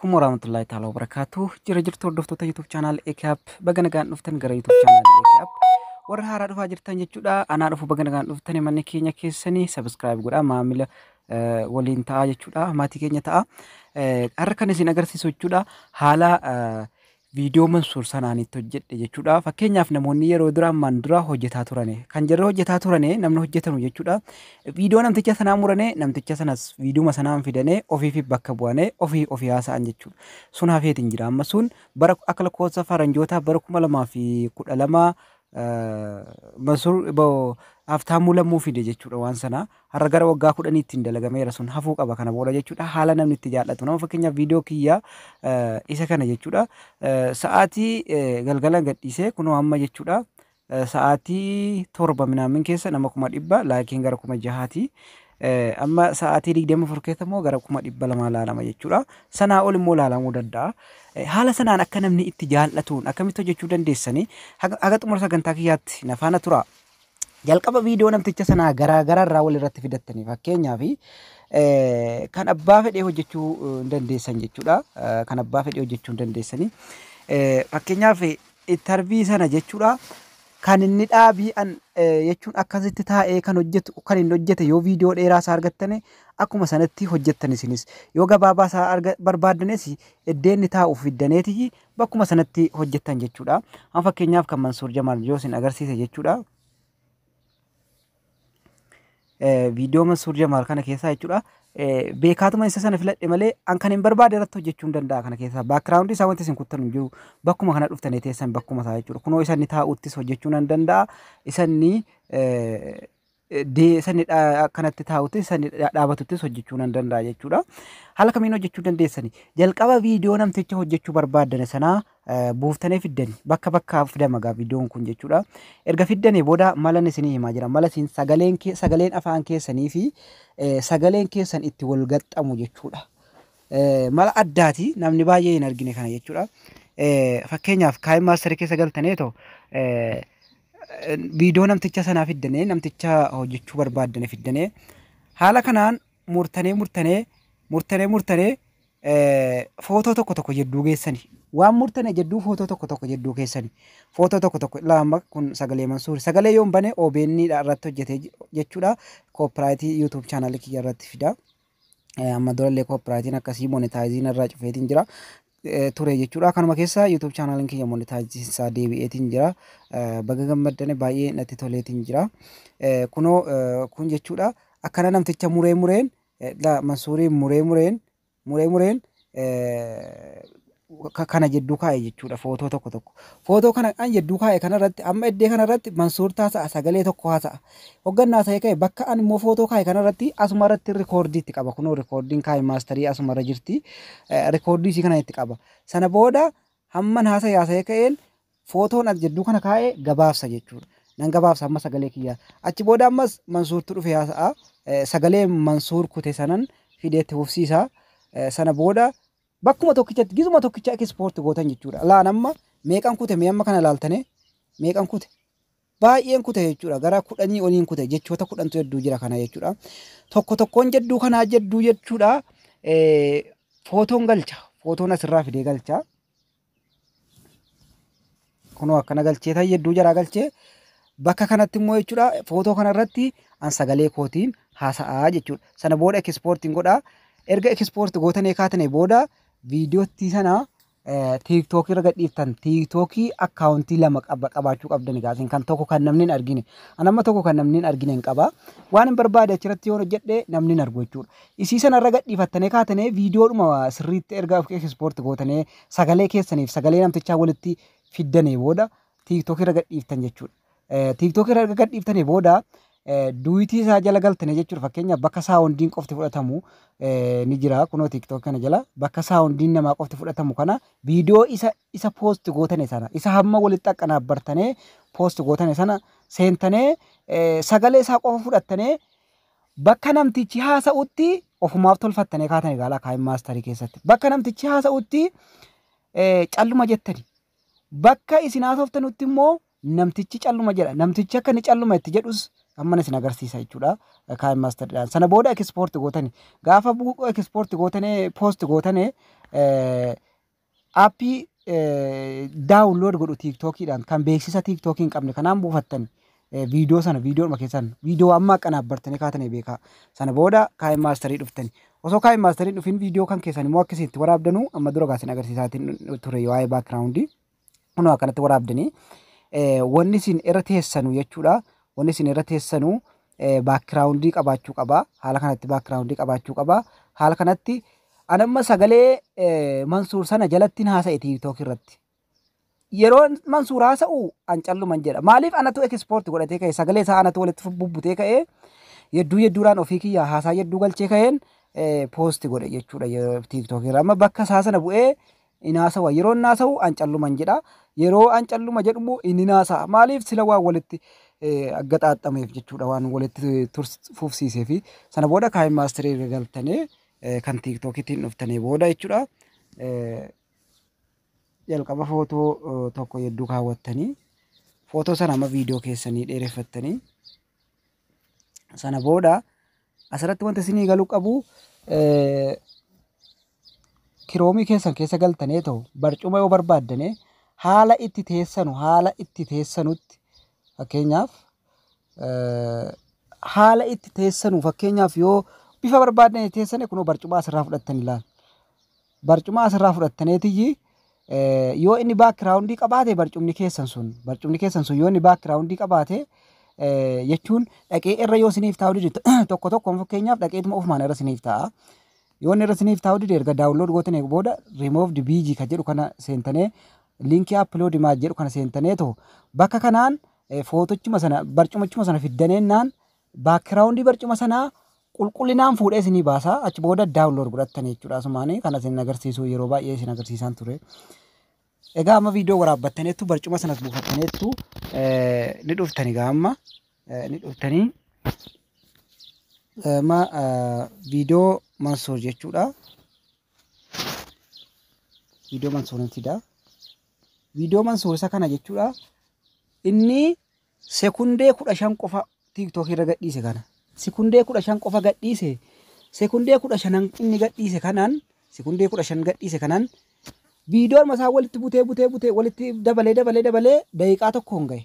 Kun warahmatullahi ta'ala wabarakatuh. Jira jirtu hordoftoota YouTube channel AKAP baga nagaan dhuftan gara YouTube channel AKAP. Warra haaraa dhufaa jirtan jechuudha. Anaa dhufu baga nagaan dhuftan manni keenya keessanii subscribe godhaa maamila eh, waliin ta'aa jechuudha. Maatii keenya ta'aa. Eh, Har'a kan isin agarsiisu jechuudha haala eh, viidiyoo mansuur sanaan itti hojjedhe jechuudha fakkeenyaaf namoonni yeroo dura ammaan dura hojjetaa turane kan jarri hojjetaa turane namni hojjetanu jechuudha viidiyoo namticha sanaa murane namticha sanas viidiyuma sanaan fidane ofiifi bakka bu'ane ofii ofii haasa'an jechuudha sun hafeetiin jira amma sun bara akka lakkoofsa faranjootaa bara kuma lamaa fi kudha lama mansuur haaftaamuu lammuu fide jechuudha waan sana Har'a gara waggaa kudhaniittiin dalagameera sun hafuu qaba kana booda jechuudha. Haala namni itti jaallatu nama fakkeenyaaf viidiyoo kiyya isa kana jechuudha. Sa'aatii galgalan gadhiisee kunoo amma jechuudha. Sa'aatii torba minaamin keessa nama kuma dhibba laakiin gara kuma jahaati. Amma sa'aatii digdama afur keessa immoo gara kuma dhibba lamaa laalama jechuudha. Sanaa ol immoo laalamuu danda'a. Haala sanaan akka namni itti jaallatuun akkamitti hojjechuu dandeessanii haga xumura sagantaa kiyyaatti na faana turaa. Jalqaba viidiyoo namticha sanaa garaa garaa irraa wal irratti fidattanii fakkeenyaaf kan abbaa fedhee hojjechuu hin dandeessan jechuudha. Kan abbaa fedhee hojjechuu hin dandeessanii. Fakkeenyaaf intarvii sana jechuudha. Kan inni dhaabii an jechuun akkasitti taa'ee kan hojjetu kan inni hojjete yoo viidiyoo dheeraa isaa argattane akkuma sanatti hojjettan isinis. Yoo gabaabaa isaa barbaaddanes iddoo inni taa'u fiddaneeti bakkuma sanatti hojjettan jechuudha. Amma fakkeenyaaf kan Mansuur Jamaal yoo isin agarsiise jechuudha. Viidiyoo Mansuur Jamaal kana keessaa jechuudha. Beekaatuma isa sana filadhe malee an kan hin barbaade irratti hojjechuu hin danda'a kana keessaa. Baakiraawundi isaa wanti isin kuttan hin jiru. Bakkuma kana dhuftanii teessan bakkuma isaa jechuudha. Kunoo isa inni taa'uttis hojjechuu nan danda'a. Isa inni dee sanni dha- akkanatti taa'utti sanni dha- dhaabatuttis hojjechuu nan danda'a jechuudha. Haala kamiin hojjechuu dandeessani? Jalqaba viidiyoo namticha hojjechuu barbaaddane sanaa eh, buuftanii fiddani. Bakka bakkaa fidama gaa viidiyoon kun jechuudha. Erga fiddanii booda malan isinii himaa jira. Mala isin sagaleen, kee- sagaleen afaan keessanii fi eh, sagaleen keessan itti wal gaxxamu jechuudha. Mala addaati namni baay'ee hin argine kana jechuudha. Fakkeenyaaf kaa'in maasterii keessa galtanee too viidiyoo namticha sanaa fiddanee namticha hojjechuu barbaaddane fiddanee haala kanaan murtanee murtanee murtanee murtanee footoo tokko tokko jedduu geessani waan murtane jedduu footoo tokko tokko jedduu keessani footoo tokko tokko ilaa amma kun sagalee mansuuri sagalee yoon bane OBN irratti hojjete jechuudha koopiraayitii yuutuub chaanaalii kiyya irratti fida. amma durallee koopiraayitiin akkasii monetaayiziin irraa cufeetiin jira ture jechuudha. Kanuma keessa YouTube chaanaaliin kiyya monetaayiziin isaa deebi'eetiin jira. Baga gammaddane baay'ee natti toleetiin jira. Kunoo kun jechuudha akkana namticha muree mureen Mansuuriin muree mureen muree mureen kana jedduu kaa'e jechuudha footoo tokko tokko. Footoo kana an jedduu kaa'e kanarratti amma iddee kanarratti Mansuur taasa'a sagalee tokko haasa'a. Hoggannaa ta'e ka'e bakka an immoo footoo kaa'e kanarratti asuma irratti rikoordii itti qaba. Kunoo rikoordiin kaa'e maastarii asuma irra jirti. Rikoordii isii kana itti qaba. Sana booda hamman haasa'e haasa'e ka'een footoon as jidduu kana kaa'e gabaabsa jechuudha. Nan gabaabsa amma sagalee kiyyaa. Achi booda ammas Mansuurtu dhufe haasa'a. Eh, Sagalee Mansuur kute sanan fidee itti fufsiisa. Eh, Sana booda bakkuma tokkichatti gizuma tokkicha ekispoorti gootan jechuudha. Laan amma meeqan kute mee amma kana laaltane meeqan kute baay'een kute jechuudha. Gara kudhanii oliin kute jechoota kudhantu jedduu jira kana jechuudha. Tokko tokkoon jedduu kanaa jedduu jechuudha. Eh, Footoon galcha. Footoon asirraa fidee galcha. kunoo akkana galchee ta'e hedduu jaraa galchee bakka kanatti immoo jechuudha footoo kanarratti an sagalee kootiin haasa'aa jechuudha sana booda ekispoortiin godhaa erga ekispoorti gootanee kaatane booda viidiyootti sana tiiktookii irra gadhiiftan tiiktookii akkaawuntii lama qaba qabaachuu qabdan egaa isin kan tokko kan namni hin argine an amma tokko kan namni hin argine hin qaba waan hin barbaade achirratti yoo hojjedhe namni hin argu jechuudha Isii sana irra gadhiifattanii kaatanii viidiyoodhuma sirriitti erga of export gootanii sagalee keessaniif sagalee namtichaa walitti fiddanii booda tiiktookii irra gadhiiftan jechuudha. Eh, Tiiktookii irra erga gadhiiftanii booda eh, duwitii isaa jala galtanii jechuudha. Fakkeenyaaf bakka saawundiin qofti fudhatamu eh, ni jira kunoo tiiktookii kana jala bakka saawundiin namaa qofti fudhatamu kana viidiyoo isa isa poosti gootane sana isa hamma walitti aqanaabbartanee poosti gootane sana seentanee eh, sagalee isaa qofa fudhattanee Bakka namtichi haasa'utti ofumaaf tolfattanii kaatanii ilaalaa kaa'in maastarii keessatti. Bakka namtichi haasa'utti calluma jettani. Bakka isin haasoftanutti immoo namtichi calluma jedha. Namtichi akka inni calluma itti jedhus amma isin agarsiisa jechuudha. Kaa'in maastariidhaan. Sana booda ekispoorti gootani. Gaafa ekispoorti gootane poosti gootane Aappii daawunlood godhu tiiktookiidhaan kan beeksisa tiiktookii hin qabne kanaan buufattan viidiyoo sana viidiyoodhuma keessan viidiyoo amma kanaaf bartanii kaatanii beekaa sana booda kaa'in maastarii dhuftani. Osoo kaa'in maastarii dhufin viidiyoo kan keessan immoo akkasii itti waraabdanuu amma dura gaasin agarsiisaatiin ture waa'ee baakiraawundii kunoo akkanatti waraabdanii wanni isin irra teessanu jechuudha. Wanni isin irra teessanu baakiraawundii qabaachuu qaba. Haala kanatti baakiraawundii qabaachuu qaba. Haala kanatti ani amma sagalee Mansuur sana jalattiin haasa'e tiiktookii irratti. Yeroo Mansuur haasa'u an calluman jedha. Maaliif anatu ekispoorti godhatee ka'e sagalee isaa anatu walitti bubbutee ka'e yedduu yedduudhaan ofii kiyya haasaa yedduu galchee ka'een poosti godhe jechuudha tiiktookii irra. Amma bakka isaa sana bu'ee in haasawa. Yeroo inni haasa'u an calluman jedha. Yeroo an calluma jedhu immoo inni in haasa'a. Maaliif? Sila waan walitti gaxaaxameef jechuudha. Waan walitti fufsiiseef. Sana booda kaa'in maastirii erga galtanii kan tiiktookiitiin dhuftanii booda jechuudha. Jalqaba footoo tokko yedduu kaawwattanii footoo sana amma viidiyoo keessanii dheereffattanii Sana booda asirratti wanti isinii galu qabu eh, kiroomii keessan keessa galtanee ta'u barcuma yoo barbaaddane haala itti teessanu haala itti teessanutti fakkeenyaaf eh, haala itti teessanu fakkeenyaaf yoo bifa barbaaddane teessane kunoo barcuma asirraa fudhattan ilaala. Barcuma as irraa fudhattaneetiyyi yoo inni baakiraawundii qabaate barcumni keessan sun barcumni keessan sun yoo inni baakiraawundii qabaate jechuun dhaqee irra yoo isiniif taa'u dide tokko tokkoon fakkeenyaaf dhaqeetuma ofumaan irra isiniif taa'a. Yoo inni irra isiniif taa'u dide erga daawunlood gootan eegu booda removed BG kan jedhu kana seentanee liinkii upload image jedhu kana seentanee too bakka kanaan footochuma sana barcumachuma sana fiddaneennaan Baakiraawundii barcuma sanaa qulqullinaan fuudhee isinii baasa. Achi booda daawunlood godhattan jechuudha. Asumaan kana isin agarsiisuu yeroo baay'ee isin agarsiisaan ture. Egaa amma viidiyoo waraabbattaniittu barcuma sanas buufattaniittu ni dhuftani egaa amma ni dhuftani. Amma viidiyoo Mansuur jechuudha. Viidiyoo Mansuurin fida. Viidiyoo Mansuur isa kana jechuudha. Inni Sekundee 15 qofa TikTok irra gadhiise kana. Sekundee 15 qofa gadhiise. Sekundee 15 inni gadhiise kanaan sekundee 15 gadhiise kanaan viidiyoon masaa walitti butee butee butee walitti dabalee dabalee dabalee daqiiqaa tokkoon gahe.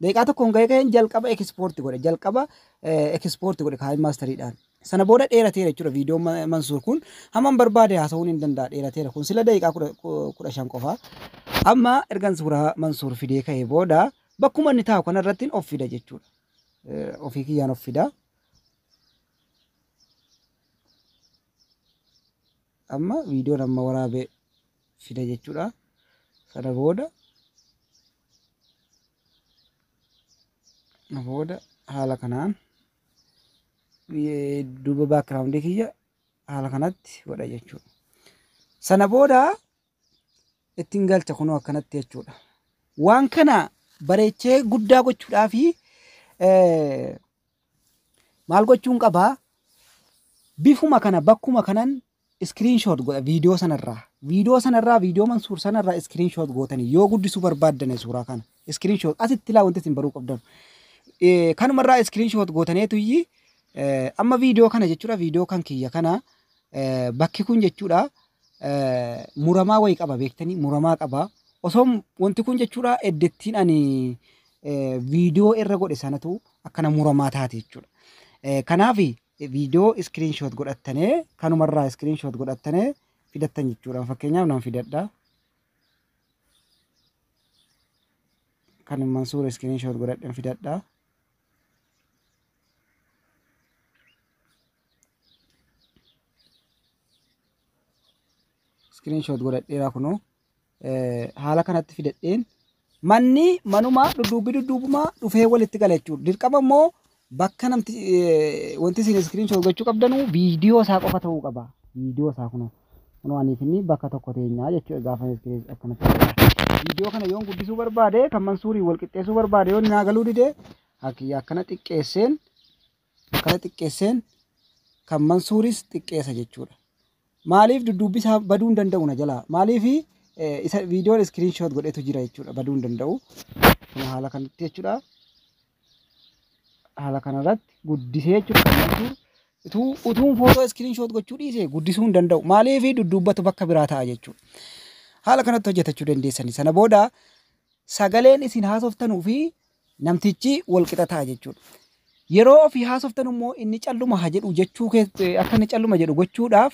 Daqiiqaa tokkoon gahe ka'een jalqaba ekispoorti godhe jalqaba ekispoorti godhe kaayii maastariidhaan. Sana booda dheerateera jechuudha viidiyoon Ma- Mansuur kun. Hamman barbaade haasa'uun hin danda'a dheerateera kun sila daqiiqaa kudha- ku- kudha shan qofa. Amma ergan suuraa Mansuur fidee ka'ee booda bakkuma inni taa'u kanarrattiin of fida jechuudha. Eh, Ofii kiyyaan of fida. Amma viidiyoon amma waraabee fida jechuudha. Sana booda na booda haala kanaan duuba baakiraawundii kiyya haala kanatti godha jechuudha. Sana booda ittiin galcha kunoo akkanatti jechuudha. Waan kana bareechee guddaa gochuudhaa fi maal gochuun qabaa bifuma kana bakkuma kanan Screen shot godha video sana irraa. Video sana irraa video Mansuur sana irraa screen shot gootanii yoo guddisuu barbaaddane suuraa kana screen shot asitti ilaa wanti isin baruu qabdan. Eh, Kanuma irraa screen shot gootaneetu iyyi eh, amma video kana jechuudha video kan kiyya kana eh, bakki kun jechuudha eh, muramaa wayii qaba beektanii muramaa qaba. Osoo wanti kun jechuudha eddettiin ani eh, video irra godhe sanatu akkana muramaa taate jechuudha. Eh, Kanaaf video screenshot godhattane kanuma irraa screenshot godhattane fidattan jechuudha fakkeenyaaf nan fidadha kan mansuur screenshot godhadhen fidadha screenshot godhadheera kunoo haala kanatti fidadheen manni manuma dudduubbi dudduubuma dhufee walitti gala jechuudha. Dirqama immoo bakka namti wanti isin iskiriin shoo gochuu qabdanu viidiyoo isaa qofa ta'uu qaba. Viidiyoo isaa kunoo kunoo anii fi inni bakka tokko teenyaa jechuudha gaafa iskiriin akkanatti viidiyoo kana yoon guddisuu barbaade kan mansuurii wal qixxeessuu barbaade yoon naa galuu dide akkana xiqqeesseen Kana xiqqeesseen kan Mansuuris xiqqeessa jechuudha. Maaliif dudduubbi isaa baduu hin danda'u na jalaa? Maaliif isa viidiyoon iskiriin shoot godhetu jira jechuudha baduu hin danda'u. Kana haala kanatti jechuudha. Haala kanarratti guddisee jechuudha kan Mansuur. Utuu utuun footoo iskiriin shoot gochuu dhiise guddisuu hin danda'u. Maaliif dudduubbatu bakka biraa ta'a jechuudha. Haala kanatti hojjetachuu dandeessani. Sana booda sagaleen isin haasoftanuu fi Namtichi wal qixa ta'a jechuudha. Yeroo ofii haasoftan immoo inni calluma ha jedhu jechuu akka inni calluma jedhu gochuudhaaf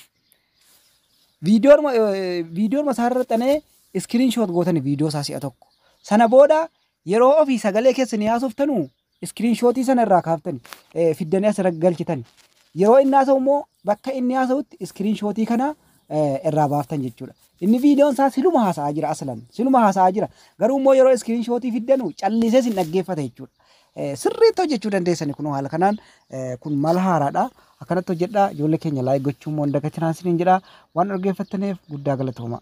viidiyoon isaa irra xanee iskiriin shoot gootan viidiyoo isaa si'a tokko. Sana booda yeroo ofii sagalee keessanii haasoftanu iskiriin shootii sana irraa kaaftani fiddanii asirra galchitani. Yeroo inni haasa'u immoo bakka inni haasa'utti iskiriin shootii kana irraa baaftan jechuudha. Inni viidiyoon isaa siluma haasa'aa jira aslan siluma haasa'aa jira garuu immoo yeroo iskiriin shootii fiddanu callisee sin dhaggeeffata jechuudha. Eh, Sirriitti hojjechuu dandeessani kunoo haala kanaan eh, kun mala haaraadha akkanatti hojjedha ijoollee keenya laayik gochuu immoo hin dagatinaa isiniin jedha waan dhaggeeffattaniif guddaa galatooma.